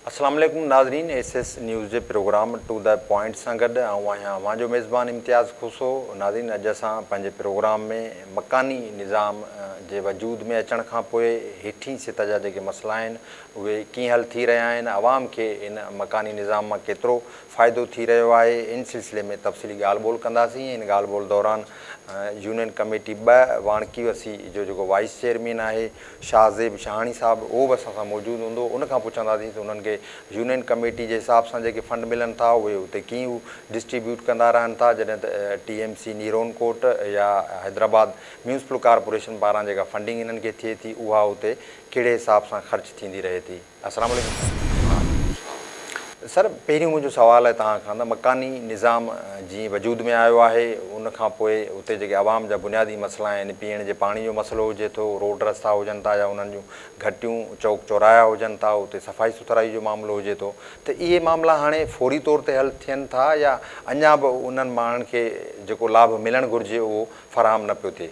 السلام عليڪم ناظرين ايس ايس نيوز جي پروگرام ٽو دي پوائنٽ سان گڏ آئون آهيان اوهان جو ميزبان امتياز کوسو ناظرين اڄ اسان پنهنجي پروگرام ۾ مڪاني نظام جي وجود ۾ اچڻ کان پوء هيٺين سطح جا جيڪي مسئلا آهن اهي ڪيئن حل ٿي رهيا آهن عوام کي ان مڪاني نظام مان ڪيترو فائدو ٿي رهيو آهي ان سلسلي ۾ تفصيلي ڳالهه ٻولهه ڪنداسين ان ڳالهه ٻولهه دوران يونين ڪميٽي ٻه واڻڪي وسي جو جيڪو وائيس چيئرمين آهي شاهه زيب شاهاڻي صاحب اهو به اسان سان موجود هوندو ان کان پڇنداسين ته انهن کي يونين ڪميٽي جي حساب سان جيڪي فنڊ ملن ٿا اهي اتي ڪيئن هو ڊسٽريبيوٽ ڪندا رهن ٿا جڏهن ته ٽي ايم سي نيرون ڪوٽ يا حيدرآباد ميونسپل ڪارپوريشن پاران جيڪا فنڊنگ انهن کي ٿئي ٿي اها اتي ڪهڙي حساب سان خرچ ٿيندي رهي ٿي. السلام عليڪم سائين سر پهريون منهنجو سوال آهي توهان کان ته مڪاني نظام جيئن وجود ۾ آيو آهي ان کان پوء اتي جيڪي عوام جا بنيادي مسئلا آهن يعني پيئڻ جي پاڻي جو مسئلو هجي ٿو روڊ رستا هجن ٿا يا انهن جون گهٽيون چوڪ چوراها هجن ٿا اتي صفائي سٿرائي جو معاملو هجي ٿو ته اهي معاملا هاڻي فوري طور تي حل ٿين ٿا يا اڃا به انهن ماڻهن کي جيڪو لاڀ ملڻ گهرجي اهو فراهم نه پيو ٿئي.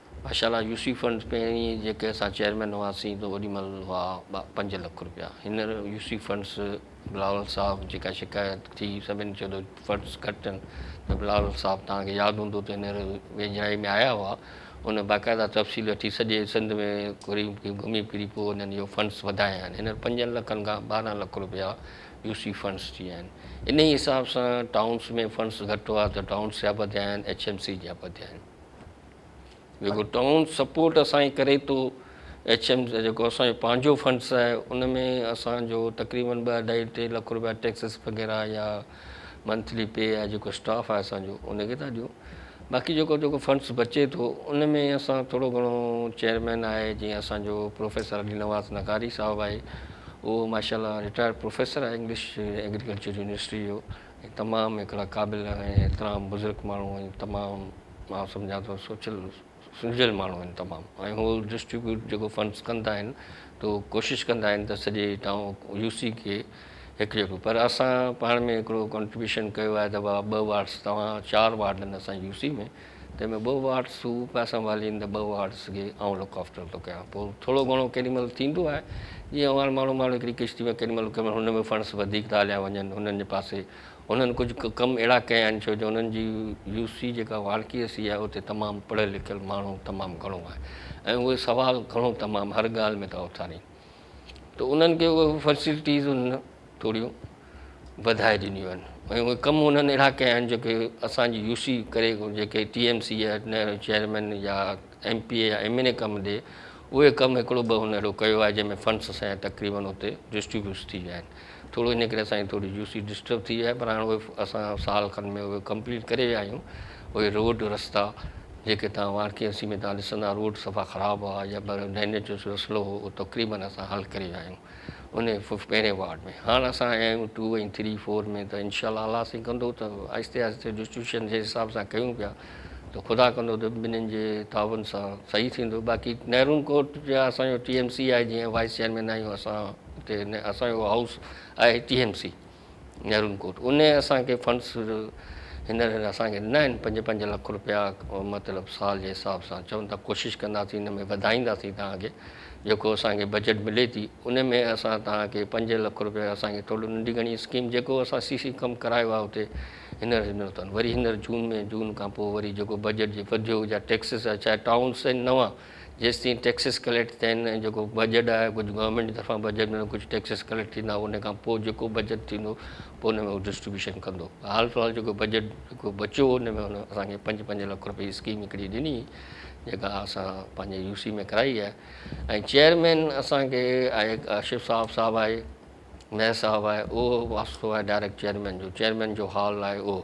ماشاء الله يوسي فنڊز پهرين جيڪي اسان چيئرمين هئاسين ته اوڏي مهل هئا پنج لک روپيا هينئر يوسي فنڊز بلاول صاحب جيڪا شڪايت ٿي سڀني چيو ته فنڊز گهٽ آهن ته بلاول صاحب توهان کي ياد هوندو ته هينئر ويجهائي ۾ آيا هئا ان باقاعده تفصيل وٺي سڄي سنڌ ۾ قريب قريب گهمي ڦري پوء انهن اهو فنڊز وڌايا آهن هينئر پنجن لکن کان ٻارهن لک روپيا يوسي فنڊز ٿي ويا آهن انهي حساب سان ٽائونز ۾ فنڊز گهٽ هئا ته ٽائونز جا به وڌيا آهن ايڇ ايم سي جا به وڌيا آهن. جيڪو ٽائون سپورٽ اسان جي ڪري ٿو ايڇ ايم جيڪو اسان جو پنهنجو فنڊس آهي ان ۾ اسان جو تقريبن ٻه اڍائي ٽي لک روپيا ٽيڪسز وغيره يا منٿلي پي يا جيڪو اسٽاف آهي اسان جو ان کي ٿا ڏيون باقي جيڪو جيڪو فنڊس بچي ٿو ان ۾ اسان ٿورو گهڻو چيئرمين آهي جيئن اسان جو پروفيسر علي نواز نغاري صاحب آهي اهو ماشاء الله رٽائرڊ پروفيسر آهي انگلش ايگريڪلچر يونيورسٽي جو هي تمام هڪڙا قابل ۽ احترام بزرگ ماڻهو آهن تمام مان سمجهان ٿو سوچيل سلجهيل ماڻهو آهن تمام ۽ هو ڊسٽريبيوٽ جيڪو فنڊز ڪندا آهن تو ڪوشش ڪندا آهن ته سڄي ٽائون يو سي کي هڪ جهڙو پر اسان پاڻ ۾ هڪڙو ڪنٽريبيوشن ڪيو آهي ته ٻه وارڊز توهان چار وارڊ آهن اسان جي يو سي ۾ تنهن ۾ ٻه وارڊز تون پيا سنڀالين ته ٻه وارڊز کي آئون لڪ آفٽر ٿو ڪيان. پوء ٿورو گهڻو ڪيڏي مهل ٿيندو آهي. جيئن اوهان ماڻهو ماڻهو هڪڙي ڪشتي ۾ ڪيڏي مهل ڪيڏي مهل هن ۾ فنڊز وڌيڪ ٿا هليا وڃن هنن جي پاسي هنن ڪجهه ڪم اهڙا ڪيا آهن ڇو جو هنن جي يو سي جيڪا وارڪي سي آهي اتي تمام پڙهيل لکيل ماڻهو تمام گهڻو آهي ۽ اهي سوال گهڻو تمام هر ڳالهه ۾ ٿا اٿارين. ته انهن کي اهي فيسلٽيز انهن ٿوريون وڌائي ڏنيون آهن ۽ اهي ڪم انهن اهڙا ڪيا آهن جيڪي اسان جي يو سي ڪري جيڪي ٽي ايم سي يا نهرو چيئرمين يا ايم پي اي يا ايم اين اي ڪم ڏي اهي ڪم هڪڙو ٻه هن اهڙو ڪيو آهي جنهن ۾ فنڊس اسان جا تقريبن اتي ڊسٽريبيوٽس ٿي ويا آهن ٿورو ان ڪري اسان جي ٿوري جوسي ڊسٽرب ٿي وئي آهي پر هاڻي اهي اسان سال کن ۾ اهي ڪمپليٽ ڪري ويا آهيون اهي روڊ رستا جيڪي تهان وارڪينسي ۾ تهان ڏسندا روڊ صفا خراب هئا يا ڊرينيج جو مسئلو هو اهو تقريبن اسان حل ڪري ويا آهيون ان پهرين وارڊ ۾ هاڻ اسان آيا آهيون ٽو ۽ ٿري فور ۾ ته انشاء الله الله سائين ڪندو ته آهستي آهستي ڊسٽريبيوشن جي حساب سان ڪيون پيا ته خدا ڪندو ته ٻنهين جي تعاون سان صحيح ٿيندو باقي نهرون ڪورٽ جا اسان جو ٽي ايم سي آهي جيئن وائيس چيئرمين آهيون اسان اتي اسان جو هائوس آهي ٽي ايم سي نهرون ڪورٽ ان اسان کي فنڊس هينئر اسان کي ڏنا آهن پنج پنج لک روپيا مطلب سال جي حساب سان چون ٿا ڪوشش ڪنداسين ان ۾ وڌائينداسين تان کي جيڪو اسان کي بجيٽ ملي ٿي ان ۾ اسان تان کي پنج لک روپيا اسان کي ٿورو ننڍي گهڻي اسڪيم جيڪو اسان سي سي ڪم ڪرايو آهي اتي هينئر هينئر تان وري هينئر جون ۾ جون کان پوء وري جيڪو بجيٽ جي وڌيو جا ٽيڪسز آهي چاهي ٽائونز آهن نوان جيستائين ٽيڪسز ڪليڪٽ ٿيا آهن ۽ جيڪو بجيٽ آهي ڪجهه گورنمينٽ جي طرفان بجيٽ ۾ ڪجهه ٽيڪسز ڪليڪٽ ٿيندا ان کان پوء جيڪو بجيٽ ٿيندو پوء ان ۾ هو ڊسٽريبيوشن ڪندو حال في الحال جيڪو بجيٽ جيڪو بچيو هو ان ۾ هن اسان کي پنج پنج لک روپيه جي اسڪيم هڪڙي ڏني جيڪا اسان پنهنجي يو سي ۾ ڪرائي آهي ۽ چيئرمين اسان کي آهي آصف صاحب صاحب آهي نئين صاحب آهي اهو واسطو آهي ڊائريڪٽ چيئرمين جو چيئرمين جو حال آهي اهو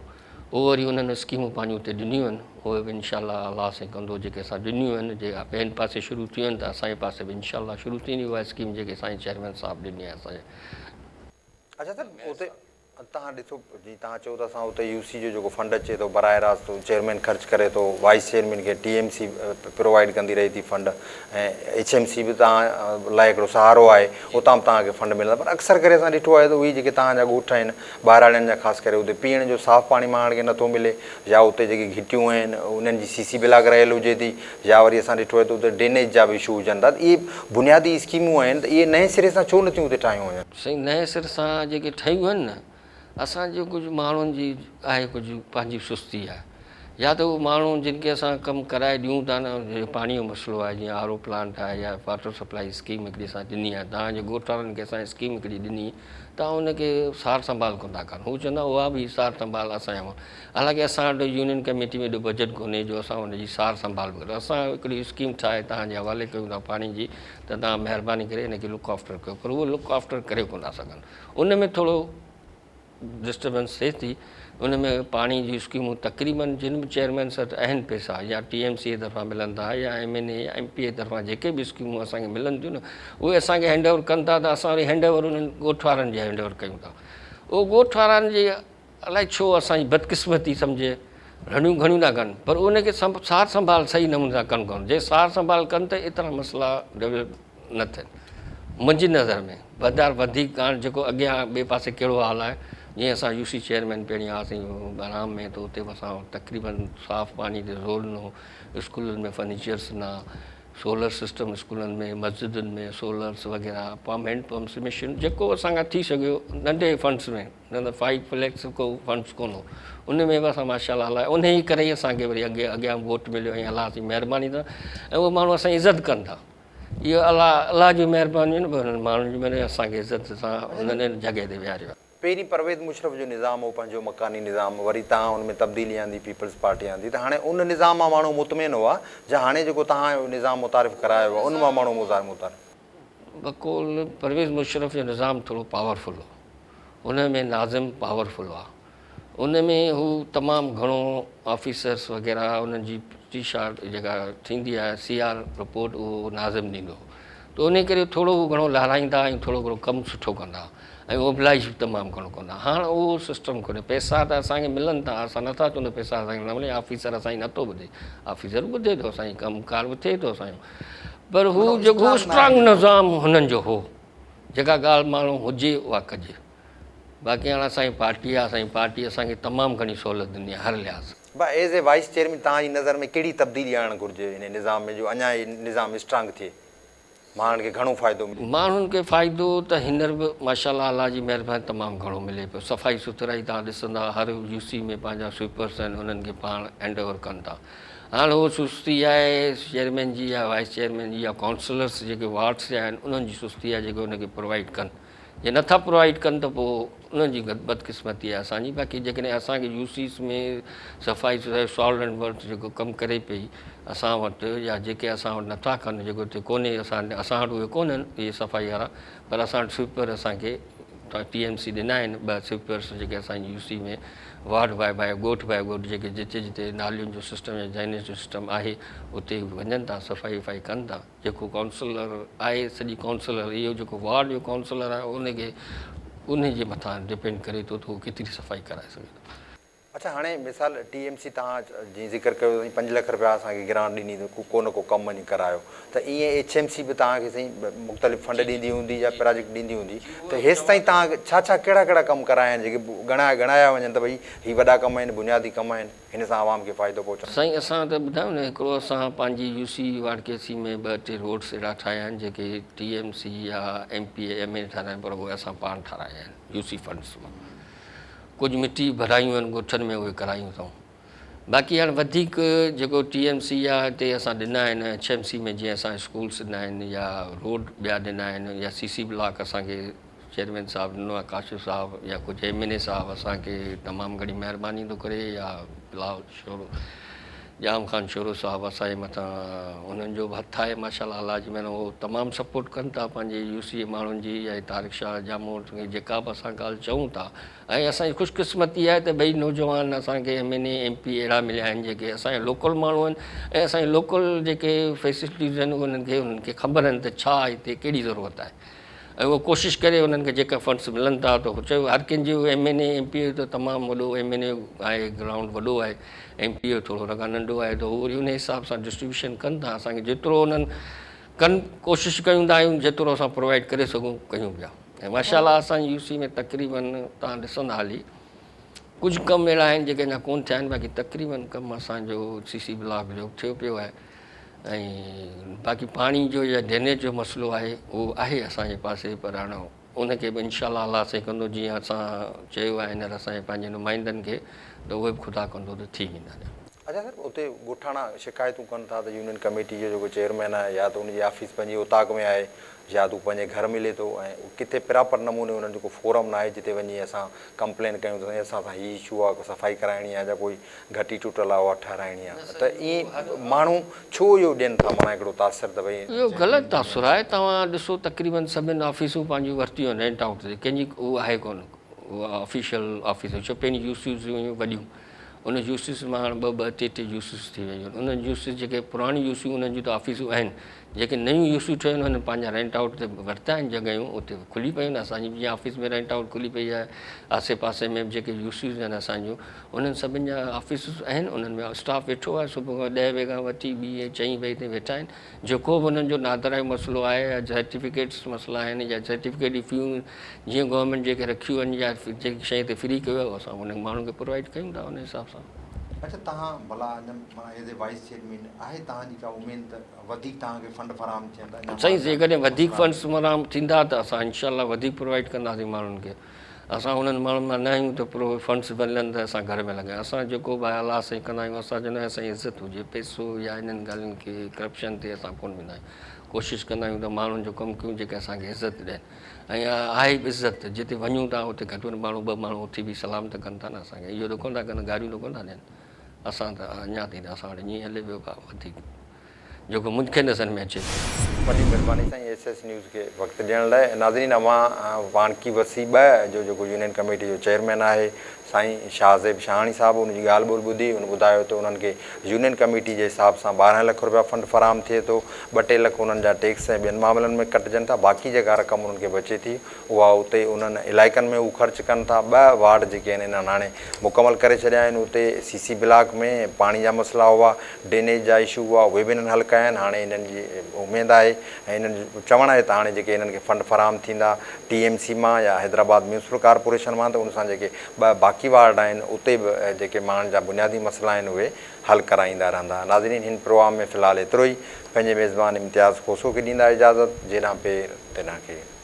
اهو وري انهن اسڪيمون پنهنجون اتي ڏنيون آهن اهي به انشاء الله الله سائين ڪندو جيڪي اسان ڏنيون آهن جي ٻين پاسي شروع ٿيون آهن ته اسان جي پاسي به انشاء الله شروع ٿيندي اها اسڪيم جيڪي سائين چيئرمين صاحب ڏني آهي اسان جي اچا سر اتي توهان ڏسو جيئن توهان چئو ته اسان اتي يو سي جو جيڪو فنڊ اچي ٿو براهه راست چيئرمين خرچ ڪري ٿو وائيس چيئرمين کي ٽي ايم سي پرووائيڊ ڪندي رهي ٿي فنڊ ۽ ايڇ ايم سي به توهان لاء هڪڙو سهارو آهي اتان به توهان کي فنڊ ملندا پر اڪثر ڪري اسان ڏٺو آهي ته اهي جيڪي توهان جا ڳوٺ آهن ٻهراڙين جا خاص ڪري اتي پيئڻ جو صاف پاڻي ماڻهن کي نٿو ملي يا اتي جيڪي گهٽيون آهن انهن جي سي سي بلاڪ رهيل هجي ٿي يا وري اسان ڏٺو آهي ته اتي ڊرينيج جا به اشو هجن ٿا اهي بنيادي اسڪيمون آهن ته اهي نئين سري سان ڇو نٿيون اتي ٺاهيون وڃن. سائين نئين سر سان جيڪي ٺهيون آهن نه اسان جي ڪجهه ماڻهن جي آهي ڪجهه پنهنجي سستي آهي يا ته اهي ماڻهو جن کي اسان ڪم ڪرائي ڏيون ٿا نه جيڪو پاڻي جو مسئلو آهي جيئن آر او پلانٽ آهي يا واٽر سپلائي اسڪيم هڪڙي اسان ڏني آهي تان جي ڳوٺ وارن کي اسان اسڪيم هڪڙي ڏني تان ان کي سار سنڀال ڪندا ڪن هو چوندا اها به سار سنڀال اسان جي حالانڪه اسان وٽ يونين ڪميٽي ۾ ايڏو بجيٽ ڪونهي جو اسان ان جي سار سنڀال به ڪريون اسان هڪڙي اسڪيم ٺاهي تان جي حوالي ڪيون ٿا پاڻي جي ته توهان مهرباني ڪري ان کي لڪ آفٽر ڪيو پر اهي لڪ آفٽر ڪري ڪونه ٿا سگهن ان ۾ ٿورو ڊسٽربنس ٿئي ٿي ان ۾ پاڻي جون اسڪيمون تقريبن جن به چيئرمين سٽ اهن پيسا يا ٽي ايم سي طرفان ملن ٿا يا ايم اين اي يا ايم پي اي طرفان جيڪي به اسڪيمون اسان کي ملن ٿيون نه اهي اسان کي هينڊ اوور ڪن ٿا ته اسان وري هينڊ اوور انهن ڳوٺ وارن جي هينڊ اوور ڪيون ٿا اهو ڳوٺ وارن جي الائي ڇو اسان جي بدقسمتي سمجهي رڙيون گهڻيون ٿا ڪن پر ان کي سار سنڀال صحيح نموني سان ڪن ڪون جي سار سنڀال ڪن ته ايترا مسئلا ڊيولپ نه ٿين منهنجي نظر ۾ بدار وڌيڪ ڪاڻ جيڪو اڳيان ٻئي پاسي ڪهڙو حال آهي جيئن اسان يو سي چيئرمين پيڻي آسين بهرام ۾ ته اتي اسان تقريبن صاف پاڻي تي زور ڏنو اسڪولن ۾ فرنيچرس نه سولر سسٽم اسڪولن ۾ مسجدن ۾ سولرس وغيره پمپ هينڊ پمپس مشين جيڪو اسان کان ٿي سگهيو ننڍي فنڊس ۾ نه نه فائيو فليڪس ڪو فنڊس ڪون هو ان ۾ به اسان ماشاءالله هلايو ان ئي ڪري ئي اسان کي وري اڳي اڳيان ووٽ مليو ۽ الله جي مهرباني سان ۽ اهو ماڻهو اسان جي عزت ڪن ٿا اهو الله الله جون مهربانيون آهن پر انهن ماڻهن جون مهربانيون اسان کي عزت سان انهن جڳهه تي ويهاريو آهي. پهرين پرويز مشرف جو نظام هو پنهنجو مڪاني نظام وري تهان ان ۾ تبديلي آندي پيپلز پارٽي آندي ته هاڻي ان نظام مان ماڻهو مطمئن هئا جا هاڻي جيڪو تهان نظام متعارف ڪرايو آهي ان مان ماڻهو متعارف بقول پرويز مشرف جو نظام ٿورو پاور فل هو ان ۾ ناظم پاور فل هئا ان ۾ هو تمام گهڻو آفيسرس وغيره انهن جي ٽي شارٽ جيڪا ٿيندي آهي سي آر رپورٽ اهو ناظم ڏيندو هو ته ان ڪري ٿورو گهڻو لارائيندا ۽ ٿورو گهڻو ڪم سٺو ڪندا هئا ۽ اوڀلائي به تمام گهڻو ڪندا. هاڻ اهو سسٽم ڪونهي. پئسا ته اسان کي ملن ٿا، اسان نه ٿا چون ته پئسا اسان کي نه ملي، آفيسر اسان جي نه ٿو ٻڌي، آفيسر ٻڌي ٿو اسان جي، ڪم ڪار به ٿئي ٿو اسان جو، پر هو جيڪو اسٽرانگ نظام هنن جو هو، جيڪا ڳالهه ماڻهو هجي اها ڪجي، باقي هاڻ اسان جي پارٽي آهي، اسان جي پارٽي اسان کي تمام گهڻي سهولت ڏني آهي هر لحاظ. ڀا ايز اي وائيس چيئرمين توهان جي نظر ۾ ڪهڙي تبديلي آڻڻ گهرجي انهي نظام ۾ جو اڃا هي نظام اسٽرانگ ٿئي؟ ماڻهن کي گهڻو فائدو ملي. ماڻهن کي فائدو ته هينئر به ماشاءالله الله جي مهرباني تمام گهڻو ملي پيو صفائي سٿرائي توهان ڏسندا هر يو سي ۾ پنهنجا سوئپرس آهن انهن کي پاڻ هينڊ اوور ڪن ٿا هاڻ هو سستي آهي چيئرمين جي يا وائيس چيئرمين جي يا ڪائونسلرس جيڪي وارڊس جا آهن انهن جي سستي آهي جيڪي ان کي پرووائيڊ ڪن. جي نٿا پرووائيڊ ڪن ته پوء انهن جي بدقسمتي آهي اسان جي باقي جيڪڏهن اسان کي يو سيز ۾ صفائي سوسائٽي سالٽ اينڊ ورڪس جيڪو ڪم ڪري پئي اسان وٽ يا جيڪي اسان وٽ نٿا ڪن جيڪو هتي ڪونهي اسان اسان وٽ اهي ڪونهن اهي صفائي وارا پر اسان وٽ سوئپر اسان کي ٽي ايم سي ڏنا آهن ٻه سوئپرس جيڪي اسان جي U C ۾ ward by by ڳوٺ باء ڳوٺ جيڪي جتي جتي نالين جو سسٽم يا ڊرينيج جو سسٽم آهي اتي وڃن ٿا صفائي وفائي ڪن ٿا جيڪو ڪائونسلر آهي سڄي ڪائونسلر اهو جيڪو وارڊ جو ڪائونسلر آهي ان کي انهي جي مٿان ڊپينڊ ڪري ٿو ته هو ڪيتري صفائي ڪرائي سگهي ٿو. اڇا هاڻي مثال ٽي ايم سي تهان جيئن ذڪر ڪيو سائين پنج لک رپيا اسان کي گرانٽ ڏني ته ڪو نه ڪو ڪم وڃي ڪرايو ته ائين ايڇ ايم سي به تهان کي سائين مختلف فنڊ ڏيندي هوندي يا پراجيڪٽ ڏيندي هوندي ته هيستائين تهان ڇا ڇا ڪهڙا ڪهڙا ڪم ڪرايا آهن جيڪي ڳڻايا ڳڻايا وڃن ته ڀئي هي وڏا ڪم آهن بنيادي ڪم آهن. هن سان عوام کي فائدو پهچندو. سائين اسان ته ٻڌايو نه هڪڙو اسان پنهنجي يو سي واڙڪيسي ۾ ٻه ٽي روڊس اهڙا ٺاهيا آهن جيڪي ٽي ايم سي يا M P A M A نه ٺاراين پر اهي اسان پاڻ ٺارايا آهن يو سي فنڊس مان ڪجهه مٽي ڀرايون آهن ڳوٺن ۾ اهي ڪرايون اٿئون باقي هاڻ وڌيڪ جيڪو ٽي ايم سي يا هتي اسان ڏنا آهن ايڇ ايم سي ۾ جيئن اسان اسڪولس ڏنا آهن يا روڊ ٻيا ڏنا آهن يا سي سي بلاڪ اسان کي چيئرمين صاحب ڏنو آهي ڪاشف صاحب يا ڪجهه ايم اين اي صاحب اسان کي تمام گهڻي مهرباني ٿو ڪري يا بلاول شورو ڄام خان شورو صاحب اسان جي مٿان انهن جو به هٿ آهي ماشاء الله الله جي مهر هو تمام سپورٽ ڪن ٿا پنهنجي يو سي اي ماڻهن جي يا هي طارق شاهه ڄامو جيڪا به اسان ڳالهه چئون ٿا ۽ اسان جي خوش قسمتي آهي ته ٻئي نوجوان اسان کي M N A M P اهڙا مليا آهن جيڪي اسان جا لوڪل ماڻهو آهن ۽ اسان جي لوڪل جيڪي فيسلٽيز آهن انهن کي انهن کي خبر آهن ته ڇا هتي ڪهڙي ضرورت آهي ۽ اها ڪوشش ڪري انهن کي جيڪا فنڊز ملن ٿا ته هو چيو هر ڪنهن جو M N A M P A ته تمام وڏو ايم اين اي آهي گرائونڊ وڏو آهي ايم پي اي ٿورو ان کان ننڍو آهي ته هو وري انهي حساب سان ڊسٽريبيوشن ڪن ٿا اسان کي جيترو انهن ڪن ڪوشش ڪيون ٿا آهيون جيترو اسان پرووائيڊ ڪري سگهون ڪيون پيا ۽ ماشاء الله اسان جي يو سي ۾ تقريبن تان ڏسندا هلي ڪجهه ڪم اهڙا آهن جيڪي اڃا ڪون ٿيا آهن باقي تقريبن ڪم اسان جو سي سي بلاڪ جو ٿيو پيو آهي ۽ باقي پاڻي جو يا ڊرينيج جو مسئلو آهي اهو آهي اسان جي پاسي پر هاڻ ان کي به انشاء الله الله سائين ڪندو جيئن اسان چيو آهي هينئر اسان جي پنهنجي نمائندن کي ته اهي به خدا ڪندو ته ٿي ويندا. اچا سر اتي ڳوٺاڻا شڪايتون ڪن ٿا ته يونين ڪميٽي جو جيڪو چيئرمين آهي يا ته ان جي آفيس پنهنجي اوطاق ۾ آهي يا ته هو پنهنجي گهر ملي ٿو ۽ ڪٿي پراپر نموني انهن جو ڪو فورم ناهي جتي وڃي اسان ڪمپلين ڪيون ته سائين اسان سان هي اشو آهي ڪو صفائي ڪرائڻي آهي جا ڪوئي گهٽي ٽٽل آهي اها ٺهرائڻي آهي ته ائين ماڻهو ڇو اهو ڏين ٿا ماڻا هڪڙو تاثر ته ڀئي. اهو غلط تاثر آهي توهان ڏسو تقريبن سڀين آفيسون پنهنجون ورتيون آهن رينٽ آئوٽ تي ڪنهن جي هو آهي ڪونه آفيشل آفيسون ڇو پهرين جوسيس هيون وڏيون ان جوسيس مان هاڻ ٻه ٻه ٽي ٽي جوسيس ٿي ويون آهن انهن جوسيس جيڪي پراڻيون جوسيون انهن جون ته آفيسون آهن جيڪي نيون جوسيون ٺهيون آهن انهن پنهنجا رينٽ آئوٽ تي ورتا آهن جڳهيون اتي کلي پيون آهن اسان جي جيئن آفيس ۾ رينٽ آئوٽ کلي پئي آهي آسي پاسي ۾ به جيڪي جوسيس آهن اسان جون انهن سڀن جا آفيسز آهن، انهن ۾ اسٽاف ويٺو آهي، صبح کان ڏهه وڳي کان وٺي ٻي ۽ چئين وڳي تائين ويٺا آهن، جيڪو به انهن جو نادرا جو مسئلو آهي يا سرٽيفڪيٽس مسئلا آهن يا سرٽيفڪيٽ جون فيون جيئن گورنمينٽ جيڪي رکيون آهن يا جيڪي شيء تي فري ڪيو آهي اهو اسان انهن ماڻهن کي پرووائيڊ ڪيون ٿا انهي حساب سان. اچا تهان ڀلا اڃا معنيٰ ايز اي وائيس چيئرمين آهي تهان جي ڪا اميد ته وڌيڪ تهان کي فنڊ فراهم ٿين ته اڃا سائين جيڪڏهن وڌيڪ فنڊس فراهم ٿيندا ته اسان انشاء الله وڌيڪ پرووائيڊ ڪنداسين ماڻهن کي. اسان انهن ماڻهن مان نه آهيون جو پرو فنڊز ملن ته اسان گهر ۾ لڳايون اسان جيڪو به آهي الله سائين ڪندا آهيون اسان جو نه آهي سائين عزت هجي پئسو يا انهن ڳالهين کي ڪرپشن تي اسان ڪونه ويندا آهيون ڪوشش ڪندا آهيون ته ماڻهن جو ڪم ڪيون جيڪي اسان کي عزت ڏين ۽ اها آهي به عزت ته جتي وڃون ٿا اتي گهٽ وڌ ماڻهو ٻه ماڻهو اٿي بيهي سلام ته ڪن ٿا نه اسان کي اهو ته ڪونه ٿا ڪن گاريون ته ڪونه ٿا ڏين اسان ته اڃا تائين ته اسان وٽ ائين هلي پيو ڀاء وڌيڪ جيڪو مون کي نظر ۾ اچي ٿو. وڏي مھرباني سائين ايس ايس نيوز کي وقت ڏيڻ لاء ناظرين اوھان وانڪي وسي ٻه جو جيڪو يونين ڪميٽي جو چيئرمين آھي سائين شاھ زيب شاھاڻي صاحب ان جي ڳالھ ٻولھ ٻڌي ان ٻڌايو ته انھن کي يونين ڪميٽي جي حساب سان ٻارهن لک رپيا فنڊ فراھم ٿئي ٿو ٻه ٽي لک انھن جا ٽيڪس ۽ ٻين معاملن ۾ ڪٽجن ٿا باقي جيڪا رقم انھن کي بچي ٿي اها اتي انهن علائقن ۾ هو خرچ ڪن ٿا، ٻه وارڊ جيڪي آهن انهن هاڻي مڪمل ڪري ڇڏيا آهن، اتي سي سي بلاڪ ۾ پاڻي جا مسئلا هئا، ڊرينيج جا اشو هئا اهي به انهن حل ڪيا آهن، هاڻي انهن جي اميد آهي ۽ انهن جو چوڻ آهي ته هاڻي جيڪي انهن کي فنڊ فراهم ٿيندا ٽي ايم سي مان يا حيدرآباد ميونسپل ڪارپوريشن مان ته ان سان جيڪي ٻه باقي وارڊ آهن اتي به جيڪي ماڻهن جا بنيادي مسئلا آهن اهي حل ڪرائيندا رهندا ناظرين هن پروام ۾ في الحال ايترو ئي پنهنجي ميزبان امتياز کوسو کي ڏيندا اجازت جيڏانهن پير تيڏانهن کي.